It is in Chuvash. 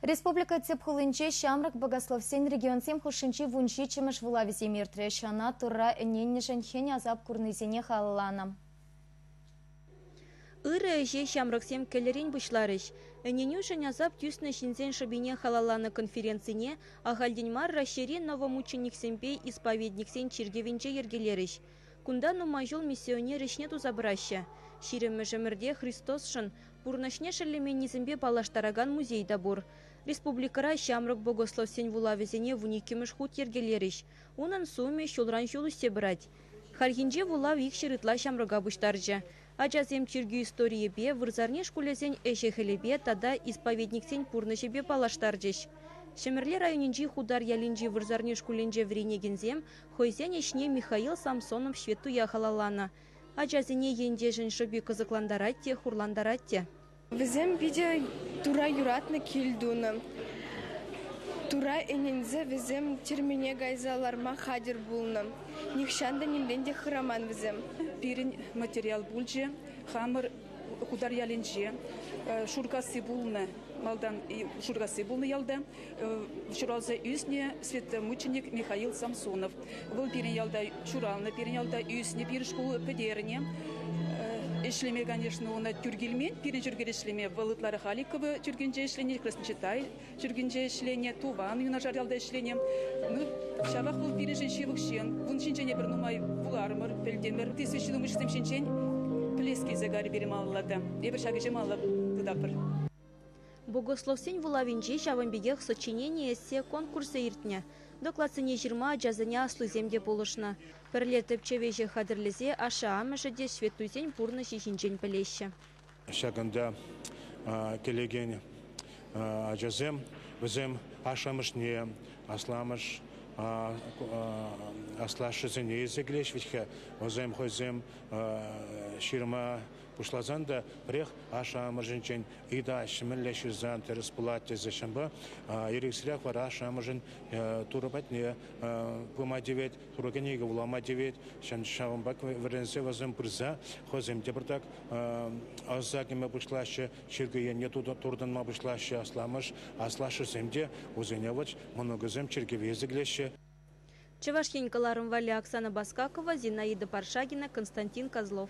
Республика тӗп хулинче ҫамрӑк богословсен регионсем хушшинчи вунҫиччӗмӗш вулавӗсем иртрӗҫ. Ӑна Турра ӗненнӗшӗн хӗн асап курнисене халалланӑ. Ырӑ ӗҫе ҫамрӑксем кӗлӗрен пуҫларӗҫ. Ӗненӳшӗн асап тӳснӗ ҫынсен шӑпине халалланӑ конференцине ахальтен мар Раҫҫейри новомученниксемпе исповедниксен чиркӗвӗнче йӗркелерӗҫ. Кунта нумай ҫул миссионер ӗҫне туса пыраҫҫӗ. Ҫирӗммӗш ӗмӗрте Христосшӑн пурнӑҫне шеллеменнисемпе паллаштаракан музей та пур. Республикӑра ҫамрӑк богословсен вулавӗсене вун иккӗмӗш хут йӗркелерӗҫ. Унӑн сумӗ ҫулран ҫул ӳссе пырать. Хальхинче вулав икҫӗр ытла ҫамрӑка пуҫтарчӗ. Ачасем чиркӳ историйӗпе, вырсарни шкулӗсен ӗҫӗ-хӗлӗпе тата исповедниксен пурнӑҫӗпе паллаштарчӗҫ. Ҫӗмӗрле районӗнчи Хутар ялӗнчи вырсарни шкулӗнче вӗренекенсем хӑйсен ӗҫне Михаил Самсонов ҫветтуя халалланӑ. Ачасене ентешӗн шӑпи кӑсӑклантарать те хурлантарать те. Вӗсем питӗ тура юратнӑ кил тунӑ. Тура ӗненсе вӗсем тюрьмене кайса ларма хатӗр пулнӑ. Нихҫан та нимрен те хыраман вӗсем. Пирӗн материал пулчӗ хамӑр Хутар ялӗнче. Шуркасси пулнӑ, малтан Шуркасси пулнӑ ялта. ҫуралса ӳснӗ светомученик Михаил Самсонов. Вӑл пирӗн ялта ҫуралнӑ, пирӗн ялта ӳснӗ, пирӗн шкул пӗтернӗ. Ӗҫлеме, конечно, ӑна тӳр килмен. Пирӗн чиркӗве ӗҫлеме вӑл ытларах Аликово чиркӗнче ӗҫленӗ, Красночитай чиркӗнче ӗҫленӗ, туван юнашар ялта ӗҫленӗ. Ну, ҫавах вӑл пирӗншӗн ҫывӑх ҫын. Ун ҫинчен эпир нумай вуларӑмӑр, пӗлтӗмӗр. Тесе ҫитӗнмӗшсем ҫинчен пӗлес килсе карӗ пирӗн малалла та. Эпир ҫак ӗҫе малалла тытатпӑр. Богословсен вулавӗнче ҫавӑн пекех сочинени эссе конкурсӗ иртнӗ. Докладсене ҫырма ачасене аслисем те пулӑшнӑ. Пӗрле тӗпчев ӗҫӗ хатӗрлесе ашшӗ-амӑшӗ те ҫветтуйсен пурнӑҫӗ ҫинчен пӗлеҫҫӗ. Ҫакӑнта килекен ачасем вӗсем ашшӗ-амӑшне, асламӑш, аслашшӗсене илсе килеҫҫӗ вӗт-ха. Вӗсем хӑйсем ҫырма Пуҫласан та пӗрех ашшӗ-амӑшӗнчен ыйта ҫӗмӗрле ҫырса тӗрӗс пулать тесе ҫынпа эрех-сӗрех вара ашшӗ-амӑшӗн Турӑ патне пыма тивет, Турӑ кӗнеке вулама тивет. Ҫавӑнпа вӗренсе вӗсем пырса хӑйсем те пӗртак ӑса кӗме пуҫлаҫҫӗ, чиркӳ енне туртӑнма пуҫлаҫҫӗ асламӑш, аслашшӗсем те вӗсене вӑт мӑнукӗсем чиркӗве сиклеҫҫӗ. Чӑваш Ен кӑларӑм валли Оксана Баскакова, Зинаида Паршагина, Константин Козлов.